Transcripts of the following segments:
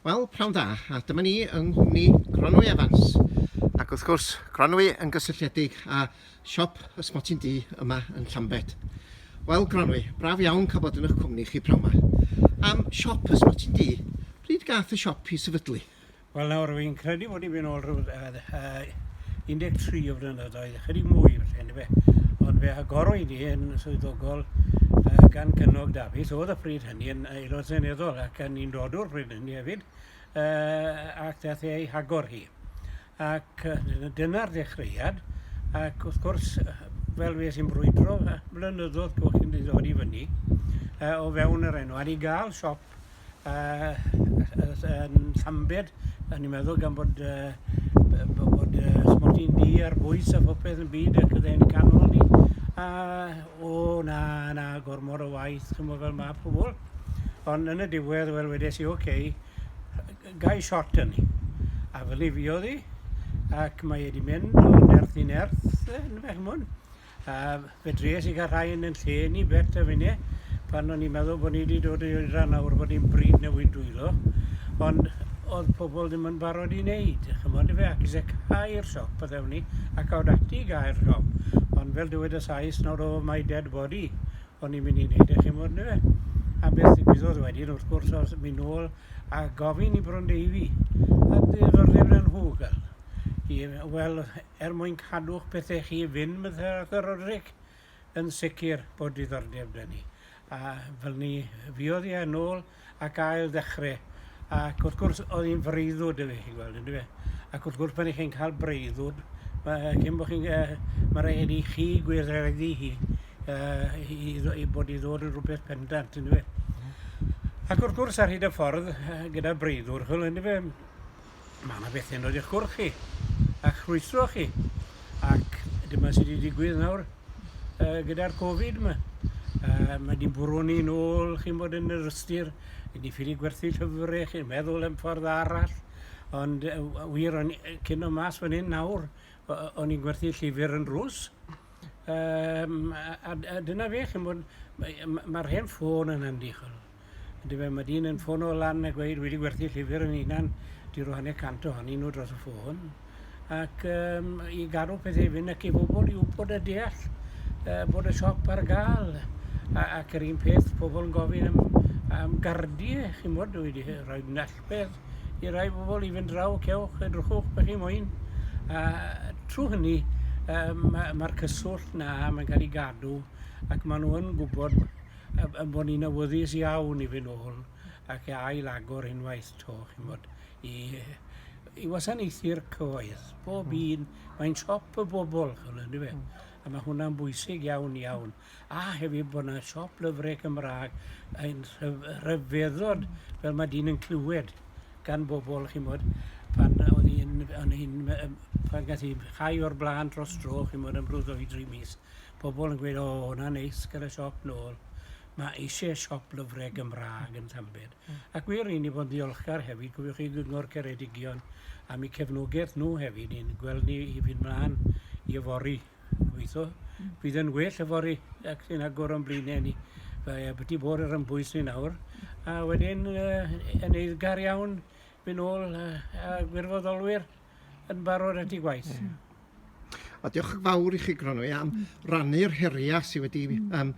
Wel, pnawn da, a dyma ni yng nghwmni Gronwy Evans, ac wrth gwrs, Gronwy yn gysylltiedig â siop Ysmotyn Du yma yn Llambed. Wel, Gronwy, braf iawn cael bod yn eich cwmni chi pnawn 'ma. Am siop Ysmotyn Du, pryd gath y siop i sefydlu? Wel nawr, fi'n credu bod ni'n mynd nôl rhyw yy 13 o flynyddoedd, ychydig mwy falle yndyfe, ond fe agorwyd hi yn swyddogol yy gan Gynog Dafis, o'dd y pryd hynny yn Aelod Seneddol ac yn undodwr pryd hynny hefyd, yy ac dath e i hagor hi. Ac yy dyna'r ddechreuad ac wrth gwrs yy fel fues i'n brwydro yy blynyddodd cwch i ddod i fyny yy o fewn yr enw a i ga'l siop yy yy s- yn Llambed o'n i'n meddwl gan bod yy b- b- bod yy ysmygu du ar bwys a phopeth yn byd ac o'dd e'n canmol ni a o na na gormod o waith ch'mo' fel ma' pobol ond yn y diwedd wel wedes i ok yy g- gai shot arni a fel 'ny fuodd 'i ac mae e 'di mynd o nerth i nerth yy yndyfe ch'mod? A fedries i gael rhai yn yn lle ni Bet a finne pan o'n i'n meddwl bod ni wedi dod i oedran nawr bod ni'n bryd newid dwylo ond oedd pobl ddim yn barod i wneud chymod efe ac eisiau cau'r siop a ddewn ni a cawd ati i gau'r siop ond fel dywed y Sais nawr o mae dead body o'n i'n mynd i wneud eich chymod ni fe a beth ddigwyddodd wedyn wrth gwrs oedd mynd nôl a gofyn i Brondeifi a ddiddordeb yn nhw gael i wel er mwyn cadw'ch pethe chi fyn Mthr ac y Roderick yn sicr bod diddordeb da ni a fel ni fuodd hi yn ôl ac ail ddechre ac wrth gwrs oedd hi'n freuddwd efe chi'n gweld yndyfe ac wrth gwrs pan i chi'n cael breuddwd mae cyn bod chi'n uh, mae rhaid i chi gweithredu hi uh, i, i bod i ddod yn rhywbeth pendant yndyfe mm. ac wrth gwrs ar hyd y ffordd uh, gyda breuddwr chwil yndyfe Mae yna bethe'n rhoid eich cwrdd chi, a'ch rhwystro chi, ac dyma sydd wedi digwydd nawr uh, gyda'r Covid yma. Uh, mae wedi bwrw ni'n ôl chi'n bod yn yr ystyr, wedi ffili gwerthu llyfrau, chi'n meddwl yn ffordd arall, ond uh, wir o'n cyn o mas fan hyn nawr, o'n i'n gwerthu llyfr yn rws. Um, a, a, a dyna fe, chi'n bod, mae'r ma, ma hen ffôn yn handi, chwrdd. Yndyfe, mae dyn yn ffono lan a gweud wedi gwerthu llyfr yn unan, di roi hanner cant ohonyn nhw dros y ffôn, ac um, i gadw pethau fynd ac i bobl i wybod a deall uh, bod y siop ar gael. A, ac yr un peth, pobl yn gofyn am, am gardiau, chi'n bod, wedi rhoi nallbedd i rai bobl i fynd draw, cewch, edrychwch, beth chi moyn. A trwy hynny, um, mae'r cyswllt na, mae'n cael ei gadw, ac maen nhw yn gwybod Am ein bod ni'n awyddus iawn i fynd nôl ac i ail-agor unwaith 'to, chi'n bod, i i wasanaethu'r cyhoedd. Bob hmm. un, mae'n siop y bobl, chi'n gwybod, ynddo fe? Hmm. A mae hwnna'n bwysig iawn, iawn. A hefyd bod yna siop lyfrau Cymraeg yn rhyfeddod hmm. fel mae dyn yn clywed gan bobl, chi'n bod, pan oedd hi'n, pan gath hi chai o'r blaen dros dro, chi'n bod, yn brwyddo i dri mis. pobl yn gweud, 'O, hwnna'n neis, gyda siop nôl. Mae eisiau siop lyfrau Gymraeg yn Llambed. Ac wir, ry'n ni fod yn ddiolchgar hefyd, cofiwch chi Gyngor Ceredigion am eu cefnogaeth nhw hefyd i'n gweld ni i fynd mlaen i yfory. Gobeithio bydd yn well yfory ac sy'n agor o'n blaenau ni. Fe byti bod yr ymbwys ni nawr. A wedyn, uh, yn eiddgar iawn, fy nôl a, a gwirfoddolwyr. yn barod at ei gwaith. Ie. A diolch yn fawr i chi, Gronwy, am rannu'r heriau sydd wedi, mm. um,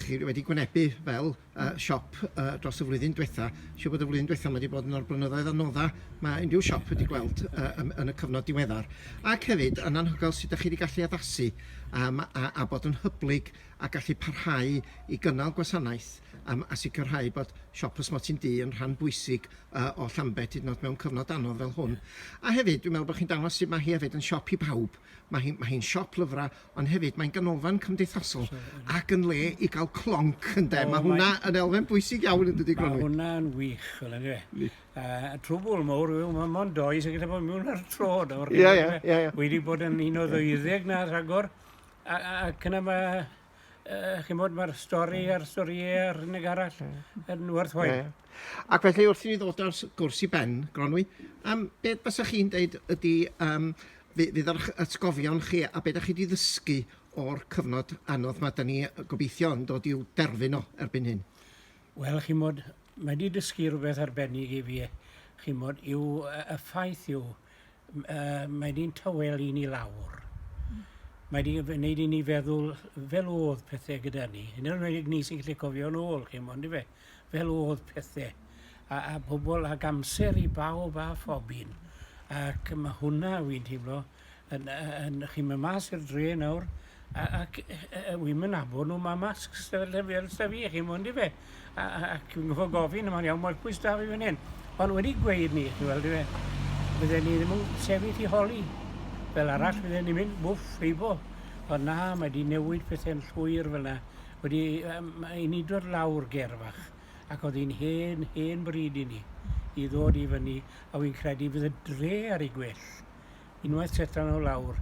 chi wedi gwynebu fel uh, siop uh, dros y flwyddyn diwetha. Siw bod y flwyddyn diwetha mae wedi bod yn o'r blynyddoedd anodda mae unrhyw siop wedi gweld uh, yn, yn y cyfnod diweddar. Ac hefyd, yn anhygoel sut ydych chi wedi gallu addasu um, a, a bod yn hyblyg a gallu parhau i gynnal gwasanaeth um, a sicrhau bod siop ysmoti'n du yn rhan bwysig yy o Llambed hyd yn o'd mewn cyfnod anodd fel hwn. A hefyd dwi'n meddwl bo' chi'n dangos sut ma' hi hefyd yn siop i bawb. Ma' hi ma' hi'n siop lyfra ond hefyd mae'n ganolfan cymdeithasol ac yn le i ga'l clonc ynde? Ma' hwnna yn elfen bwysig iawn yn dydi Gronwy? Ma' hwnna yn wych ch'wel' yndyw e? Yndi. Yy y trwbwl mowr yw ma' mond dou sy gallu bod miwn ar tro nawr. Ie ie ie ie. Wi 'di bod yn un o ddeuddeg 'na rhagor a a ac yna ma' uh, chi'n bod, mae'r stori a'r storiau a'r hynny arall yn werthwaith. Yeah. Ac felly wrth i ni ddod ar gwrs i ben, Gronwy, um, beth fysa chi'n deud ydy um, fydd yr atgofion chi a beth ydych chi wedi ddysgu o'r cyfnod anodd mae da ni gobeithio yn dod i'w derfyn o erbyn hyn? Wel, chi'n bod, mae wedi dysgu rhywbeth arbennig i fi, chi'n bod, yw y ffaith yw, uh, mae di'n tawel i ni lawr. Mm. Mae di'n gwneud i ni feddwl fel oedd pethau gyda ni. Yn ymwneud enwedig ni sy'n gallu cofio'n ôl, chi mo'n fe, fel oedd pethau. A, a pobl ag amser i bawb a phobyn. Ac mae hwnna, wy'n teimlo, yn, yn, yn chi'n mynd mas i'r dre nawr, A ac yy yy yy wi'm yn nabod nw ma' masks 'dy fel 'dy fi fel 'dy fi chi mo'n dyfe? A a ac fi'n goffod gofyn a ma'n iawn ma'r pwys 'da fi fan 'yn. Ond wedi gweud 'ny chi weld dyfe bydden ni ddim yn sefyll i holi fel arall hmm. fydden ni'n mynd wff heibo. Ond na mae 'di newid pethe'n llwyr fel 'na. Wedi yym ma' i ni dod lawr ger fach ac o'dd hi'n hen hen bryd i ni i ddod i fyny a wi'n credu bydd y dre ar ei gwell unwaith setan o lawr